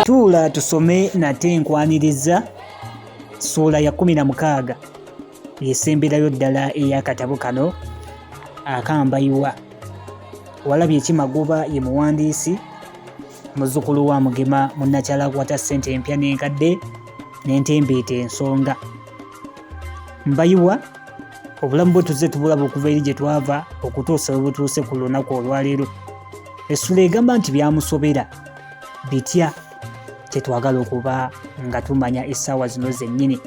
Tuula tusome nate enkwaniriza ssuula ya kumi na mukaaga yesemberayo ddala ey'akatabo kano akambayiwa walabye ekimagoba ye muwandiisi muzzukulu wa mugema munnakyala akwata ssente empya n'enkadde n'entembeeta ensonga mbayiwa obulamu bwe tuzze tubulaba okuva eri gye twava okutuusa we butuuse ku lunaku olwaleero essula egamba nti byamusobera bitya kyetwagala okuba nga tumanya essaawa zino zennyini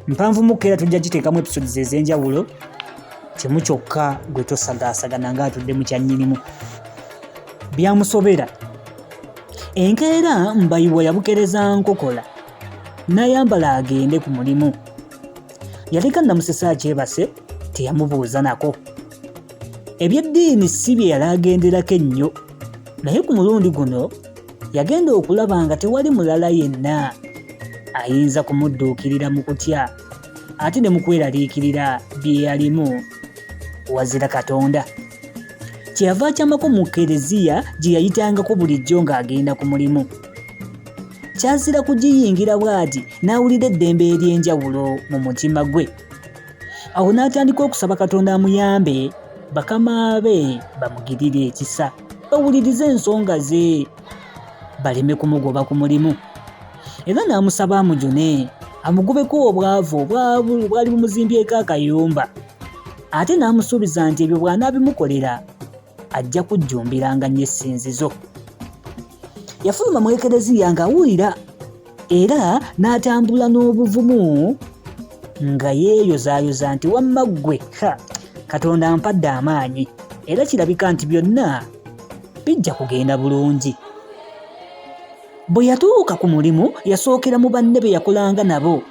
mpanvu mukka era tujja giteekamu episodes ez'enjawulo kimu kyokka gwe tosagaasagana ng'atudde mu kyannyinimu byamusobera enkeera mbayiwa yabukereza nkokola n'ayambala agende ku mulimu yaleka namusesa akyebase teyamubuuza nako ebyeddiini si bye yali agenderako ennyo naye ku mulundi guno yagenda okulaba nga tewali mulala yenna ayinza kumudduukirira mu kutya ate ne mu kweraliikirira bye yalimu wazira katonda kyeyava akyamako mu kereziya gye yayitangako bulijjo ng'agenda ku mulimu kyazira kugiyingira bw'ati n'awulira eddembe ery'enjawulo mu mutima gwe awo n'atandika okusaba katonda amuyambe bakama be bamugirire ekisa bawulirize ensonga ze baleme kumugoba ku mulimu era n'amusaba amujune amugubeko obwavu obwavu bwali bumuzimbyeko akayumba ate n'amusuubiza nti ebyo bw'anaabimukolera ajja kujjumbiranga nnyo essinzizo yafuluma mu ekereziya ng'awulira era n'atambula n'obuvumu nga yeeyozaayoza nti wamma ggwe ha katonda ampadde amaanyi era kirabika nti byonna bijja kugenda bulungi bwe yatuuka ku mulimu yasookera mu banne be yakolanga nabo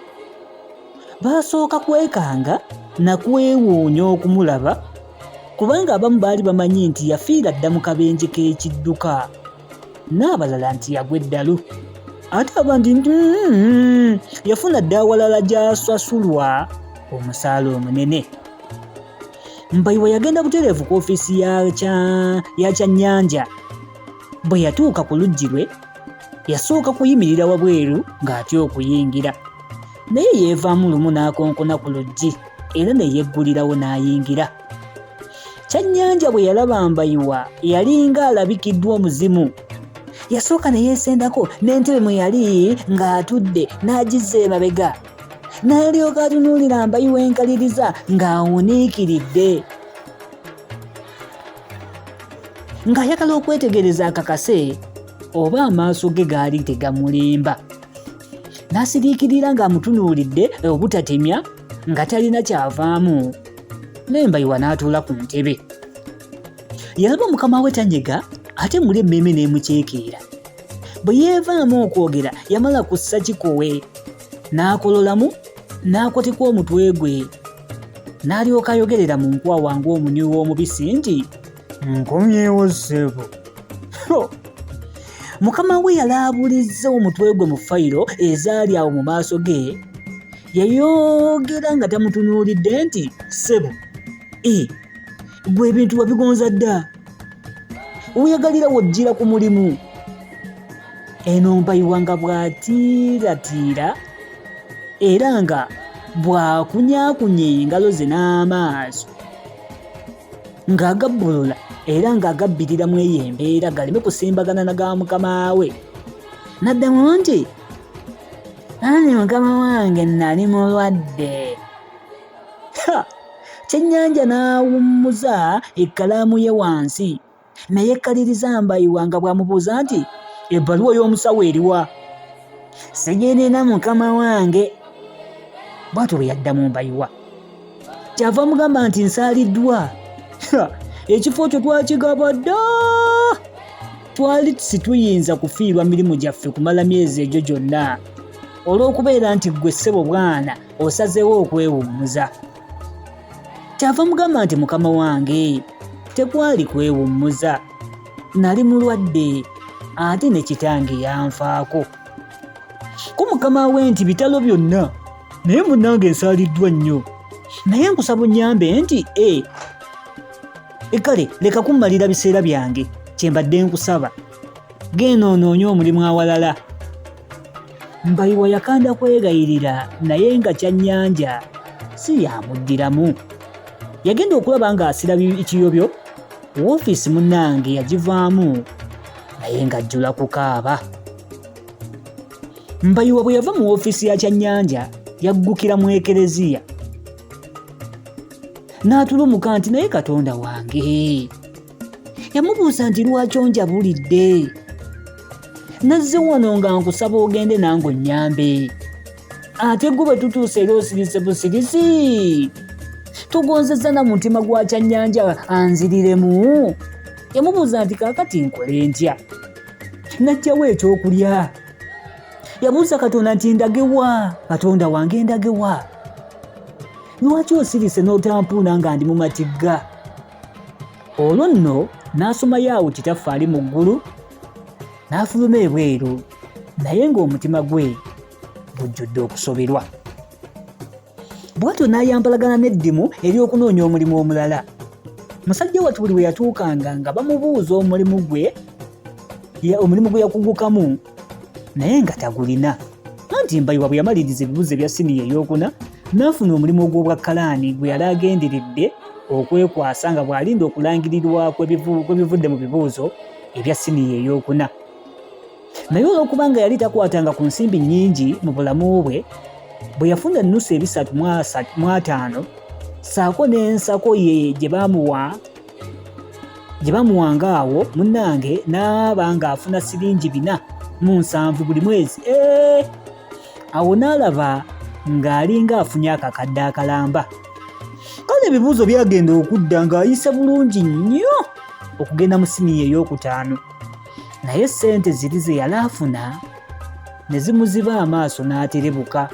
baasooka kwekanga na kwewuunya okumulaba kubanga abamu baali bamanyi nti yafiira dda mu kabenje k'ekidduka n'abalala nti yagwa eddalu ate abandi nti mm-hmm, yafuna dda awalala gy'asasulwa omusaala omunene mbayiwa yagenda butereevu ku ofiisi ya kyannyanja bwe yatuuka ku luggi lwe yasooka kuyimirira wabweru ng'atya okuyingira naye yeevaamu lumu n'akonkona ku luggi era ne yeggulirawo n'ayingira kyannyanja bwe yalaba mbayiwa yalinga alabikiddwa omuzimu yasooka ne yeesendako n'entebe mwe yali ng'atudde n'agizza emabega n'alyoka atunuulira mbayiwa enkaliriza ng'awuniikiridde ng'ayagala okwetegereza akakase oba amaaso ge gaali tegamulimba n'asiriikirira ng'amutunuulidde obutatemya nga talina kyavaamu lembayiwa n'atuula ku ntebe yalaba mukama we tanyega ate muli emmeeme n'emuceekeera bwe yeevaamu okwogera yamala kussa kikowe n'akololamu n'akotika omutwe gwe n'alyoka ayogerera mu nkwawa ng'omunywi w'omubisi nti nkomyewo ssebo mukama we yalaabulizza omutwe gwe mu fayiro ezaali awo mu maaso ge yayogera nga tamutunuulidde nti ssebo e gwe ebintu wabigonza dda weyagalira wojjira ku mulimu eno mbayiwa nga bw'atiiratiira era nga bw'akunyakunya engalo ze n'amaaso ng'agabbulula era ng'agabbirira mu eyo embeera galeme kusimbagana na ga mukama we n'addamu nti ani mukama wange nnali mulwadde kyennyanja n'awummuza ekkalaamu ye wansi naye kkaliriza mbayiwa nga bw'amubuuza nti ebbaluwa y'omusawo eriwa sigenena mukama wange bwatyo bwe yaddamu mbayiwa kyava mugamba nti nsaaliddwa ekifo kyo twakigaba dda twali situyinza kufiirwa mirimu gyaffe kumala myezi egyo gyonna olw'okubeera nti ggwe ssebo bwana osazeewo okwewummuza kyava mugamba nti mukama wange tekwali kwewummuza nali mulwadde ate ne kitange yanfaako ku mukama we nti bitalo byonna naye munange ensaaliddwa nnyo naye nkusaba onyambe nti e ekale leka kummalira biseera byange kyembadde nkusaba genda onoonye omulimu awalala mbayiwa yakanda kwegayirira naye nga kyannyanja si yamuddiramu yagenda okulaba ng'asira ekiyobyo woofiisi munnange yagivaamu naye ng'ajjula kukaaba mbayiwa bwe yava mu woofiisi ya kyannyanja yaggukira mu ekereziya n'atulumuka nti naye katonda wange yamubuuza nti lwaki onjabulidde nazze wano nga nkusaba ogende nange onnyambe ate gwe bwe tutuuse era osirise busirisi tugonzezza na mutima gwa kyannyanja anziriremu yamubuuza nti kaakati nkole ntya najjawo ekyokulya yabuuza katonda nti ndagewa katonda wange ndagewa lwaki osirise n'otampuuna nga ndi mu matigga olwo nno n'asomayo awo kitaffaali mu ggulu n'afuluma ebweru naye ng'omutima gwe gujjudde okusoberwa bwatyo n'ayambalagana n'eddimu ery'okunoonya omulimu omulala musajja watu buli bwe yatuukanga nga bamubuuza omulimu gwe omulimu gwe yakugukamu naye nga tagulina anti mbayiwa bwe yamaliriza ebibuzo ebya siniya ey'okuna n'afuna omulimu ogw'obwa kalaani gwe yali agenderedde okwekwasa nga bw'alinda okulangirirwa kw'ebivudde mu bibuuzo ebya siniya ey'okuna naye olw'okuba nga yali takwatanga ku nsimbi nnyingi mu bulamu bwe bwe yafuna ennusu ebisatu mu ataano saako n'ensako ye gye baamuwa gye bamuwanga awo munnange n'aba ng'afuna siringi bina mu nsanvu buli mwezi ee awo n'alaba ng'alinga afunye akakadde akalamba kale ebibuuzo byagenda okudda ng'ayise bulungi nnyo okugenda mu siniya ey'okutaano naye ssente ziri ze yali afuna ne zimuziba amaaso n'aterebuka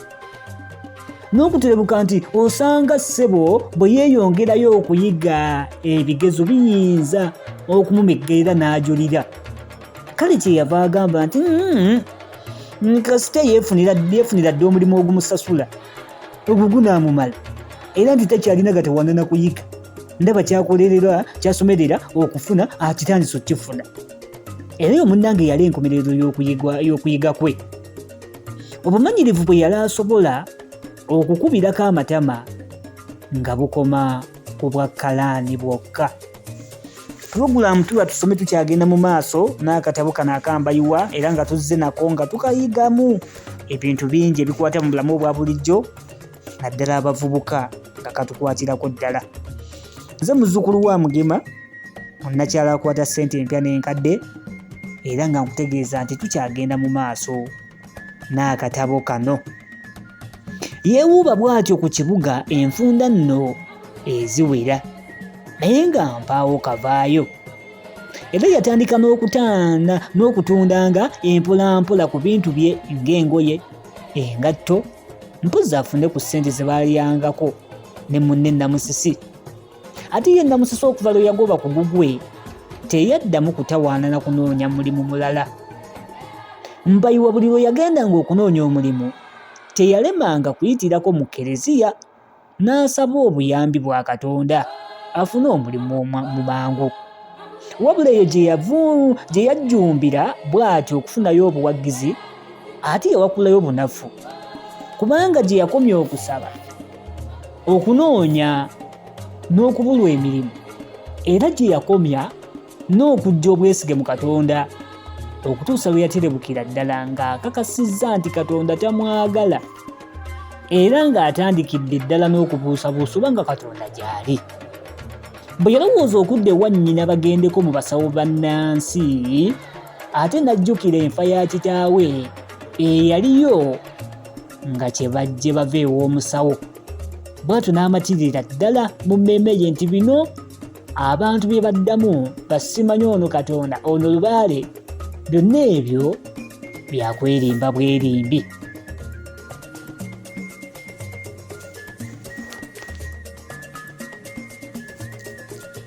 n'okuterebuka nti osanga ssebo bwe yeeyongerayo okuyiga ebigezo biyinza okumumeggerera n'ajulira kale kye yava agamba nti mm-hmm, mm, kasita yeefunira dde omulimu ogumusasula ogwo gunaamumala era nti takyalina gatawanana kuyiga ndaba kyakolerera kyasomerera okufuna akitandisa okukifuna era oyo munnange yali enkomerero y'okuyiga kwe obumanyirivu bwe yali asobola okukubirako amatama nga bukoma ku bwa kalaani bwokka pulogulaamu tuba tusome tukyagenda mu maaso n'akatabo kano akambayiwa era nga tuzze nako nga tukayigamu ebintu bingi ebikwata mu bulamu obwa bulijjo naddala abavubuka nga katukwatirako ddala nze muzzukulu wa mugema onakyala akwata ssente empya n'enkadde era nga nkutegeeza nti tukyagenda mu maaso n'akatabo kano yeewuuba bw'atyo ku kibuga enfunda nno eziwera naye nga mpaawo kavaayo era yatandika n'okutanda n'okutundanga empolampola ku bintu bye ng'engoye engatto mpozi afune ku ssente ze baalyangako ne munne Namusisi ate ye Namusisi okuva lwe yagoba ku gugwe teyaddamu kutawaana na kunoonya mulimu mulala mbayiwa buli lwe yagendanga okunoonya omulimu teyalemanga kuyitirako mu kereziya n'asaba obuyambi bwa Katonda afune omulimu mu mangu. Wabula eyo gye yajjumbira bw'atyo okufunayo obuwagizi ate yawakulayo bunafu kubanga gye yakomya okusaba okunoonya n'okubulwa emirimu era gye yakomya n'okujja obwesige mu Katonda okutuusa lwe yaterebukira ddala ng'akakasizza nti Katonda tamwagala era ng'atandikidde ddala n'okubuusabuusa oba nga Katonda gy'ali. Bwe yalowooza okudda ewa nnyina bagendeko mu basawo bannansi ate n'ajjukira enfa ya kitaawe eyaliyo nga kye bajje bava ew'omusawo bw'atyo n'amatirira ddala mu mmeeme ye nti bino abantu bye baddamu basimanya ono katonda ono lubaale byonna ebyo byakwerimba bwerimbi